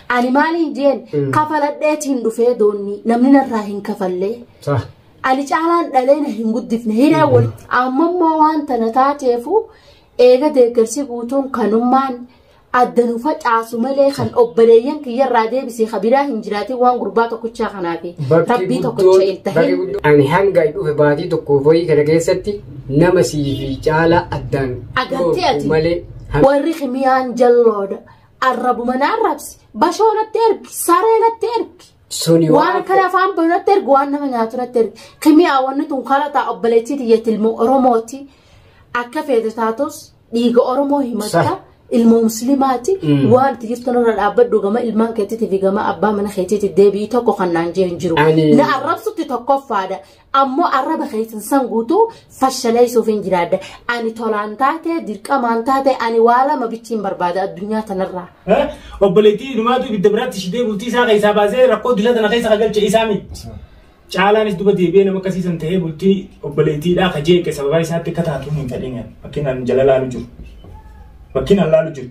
Ani maaliin jeen Mm. kafaladheeti hin dhufee doonni namni narraa hin kafallee. Sa. Ani caalaan dhalee na hin guddifne hiree wal amma immoo waan tana taateefu eega deeggarsi guutuun kanummaan adda nu facaasu malee kan obboleeyyan kiyyarraa deebisee kabiraa hin jiraatin waan gurbaa tokkichaa kanaafi rabbii tokkicha hin tahin. Ani hanga dhufe baatii tokko wayii kana keessatti nama sii fi caalaa addaan Agartee ati. malee. warri kimiyaan jalloodha Arrabuma na arrabsi. Bashoo natti ergi. Saree natti ergi. Suni Waan akkana afaan bahu natti ergi. Waan nama nyaatu natti ergi. Kimiyaa wanni tun kara ta'a obboleettii tiyya ilmoo Oromooti. Akka feete taatus dhiiga Oromoo himatta. Sah. Ilmoo musliimaati. Mm. Waan itti jirtu nurra dhaabbadhu gama ilmaan keetiitii fi gama abbaa mana keetiitii deebi'ii tokko kan naan jee hin jiru. Ani- Na arrabsutti tokkoffaadha. ammoo arraba keessan san guutuu fashaleessuuf hin jiraadde ani tolaan taate dirqamaan taate ani waa lama bichiin barbaada addunyaa tanarraa. Obboleettii inumaatu ibidda biraatti shitee bultii isaa keessaa baasee rakkoo addunyaa tana keessa kagalche isaa miti. Caalaanis duba deebi'ee nama akkasiisan ta'ee bultii obboleettiidhaa ka jeeqe sababaa isaatti akka taatu hin fedhin bakkinaan jala laalu jiru. Bakkinaan laalu jiru.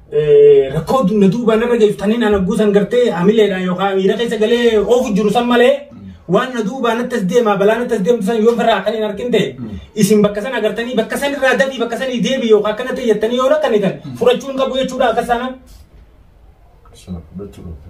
rakkoo na duuba narra geeffatanii naan hogguu san gartee hamileedhaan yookaan miira keessa galee oofu jiru san malee waan na duubaa natti as deemaa balaa natti as deemtu san yoo firraa kan hin argin ta'e isin bakka san agartanii bakka san irraa dabii bakka san deebi yookaan akkana ta'e jettanii yoo rakkanitan fudhachuun qabu jechuudha akka sana. Sana fudhachuu dhabde.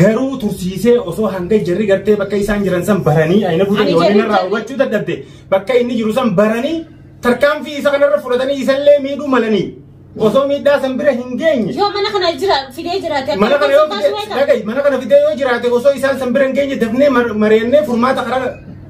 Garuu tursiisee osoo hanga jarri gartee bakka isaan jiran san baranii ayina Ani fuudhanii waliin jarri- irraa hubachuu dadhabde bakka inni jiru san baranii tarkaanfii isa kanarra fudhatanii isallee miidhuu malanii osoo miidhaa san bira hin geenye. Yoo mana kana jira fidee jiraate akka mana kana yoo bakka fide baasuu beekama. dhaga'i, mana kana fidee yoo jiraate osoo isaan san bira hin geenye dafnee mar- mari'annee furmaata karaa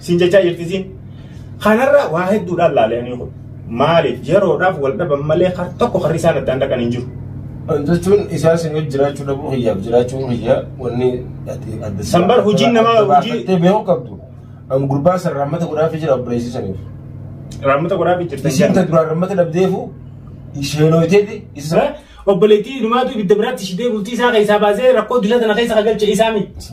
Siin jechaa jirti siin. Kanarraa waa hedduudhaan laalanii kun. Maaliif yeroodhaaf wal dhaban malee har tokko harri isaan addaan dhaqan hin jiru. jechuun isaa sin wajji jiraachuu dhabuu hiyyaaf jiraachuu hiyyaa wanni ati adda San bar hojiin namaa hojii- hojii beekuu qabdu an gurbaa san raammata godhaafii jira obboleessisaniif Raammata godhaa fi jirtan isiin ta jedhan. duraan raammata dhabdeefu isheenooyteeti isa Obboleettii dhumaatu ibidda biraatti ishidee bultii isaa keessaa baasee rakkoo dila tana keessa kagalche isaa miti.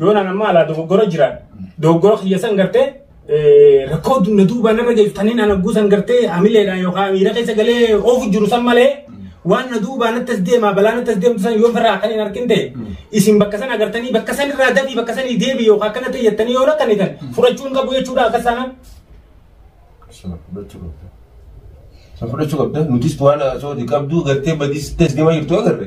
Yoon an amma alaa dogoggora jiraan dogoggora kiyya san gartee rakkoo na duubaan irra geeffatanii na nagguu san gartee hamileedhaan yookaan miira keessa galee oofu jiru san malee waan na duubaan natti as deemaa balaa natti as deemtu san yoo firraa kan hin argin ta'e isin bakka san agartanii bakka san irraa dafii bakka sanii deebi yookaan akkana ta'e jettanii yoo rakkanitan fudhachuu hin qabu jechuudha akka sana. Sana fudhachuu qabda. Sana fudhachuu qabda. Nutis waan haasawaa qabdu gartee badii sitti as deemaa jirtu agarre.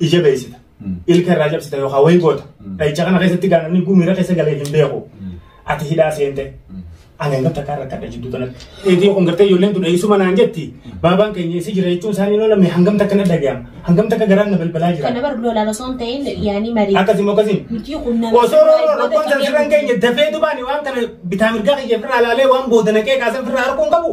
ija beeksita. Ilka irraa cabsita yookaan wayii goota. Dhahicha kana keessatti gaa namni gumiira keessa galee hin beeku. Ati hidhaa seente. Ani hanga takkaa rakkadha jidduu kanatti. Eetii kun gartee ijoolleen tun eessuma naan jetti. Baabaan keenya eessi jira jechuun isaanii hin oolamne hangam takka na dhaga'ama. Hangam takka garaan na balbalaa jira. Kana bar lolaan osoo hin ta'in yaanii marii. Akkasii moo akkasii? Nuti kun nama. Osoo rooroo rakkoon tarsiran keenya dafee dubaani waan kana bitaa mirgaa kiyya firraa laalee waan booda naqee kaasan firraa harkuun qabu.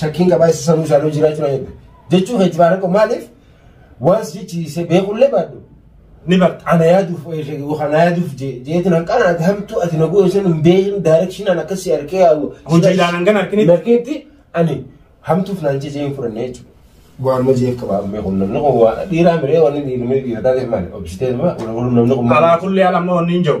Shakkiin qabaa isa sammuu isaanii hojii irraa jiran eegdu. Jechuu keetti baara qabu maaliif waan si jechisiisee beekullee baadhu. Ni barta ana yaaduuf yookaan na yaaduuf jeetiin hanqaan ati hamtuu ati na goone sun hin beekin daayirekshinaan akkasii harkee yaa'u. Hojii ilaalan hangan harkinitti. Harkinitti ani hamtuuf naan jejee hin fudhanne jechuudha. Waan ma jeef qabaa mee kun namni kun waa dhiiraa miree wanni dhiirri dhiirataa ta'e maali obsitee nama wal namni kun. Alaa kullee alamma wanni hin jiru.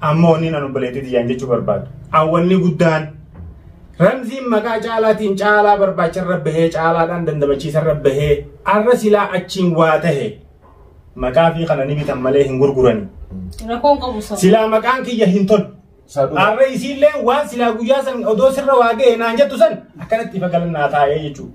Amma wanni nan obboleettii tiyyaan jechuu barbaadu. An wanni guddaan Ramziin maqaa caalaatiin caalaa barbaacharra bahee caalaadhaan dandamachiisarra bahee arra silaa achiin waa tahe maqaa fi kana ni bitan malee hin gurgurani. Rakkoon qabu sabu. Silaa maqaan kiyya hin tolu. Saduu. Arra isiillee waan silaa guyyaa san odoo sirra waa gahe naan jettu san akkanatti ifa galannaa taa'ee jechuudha.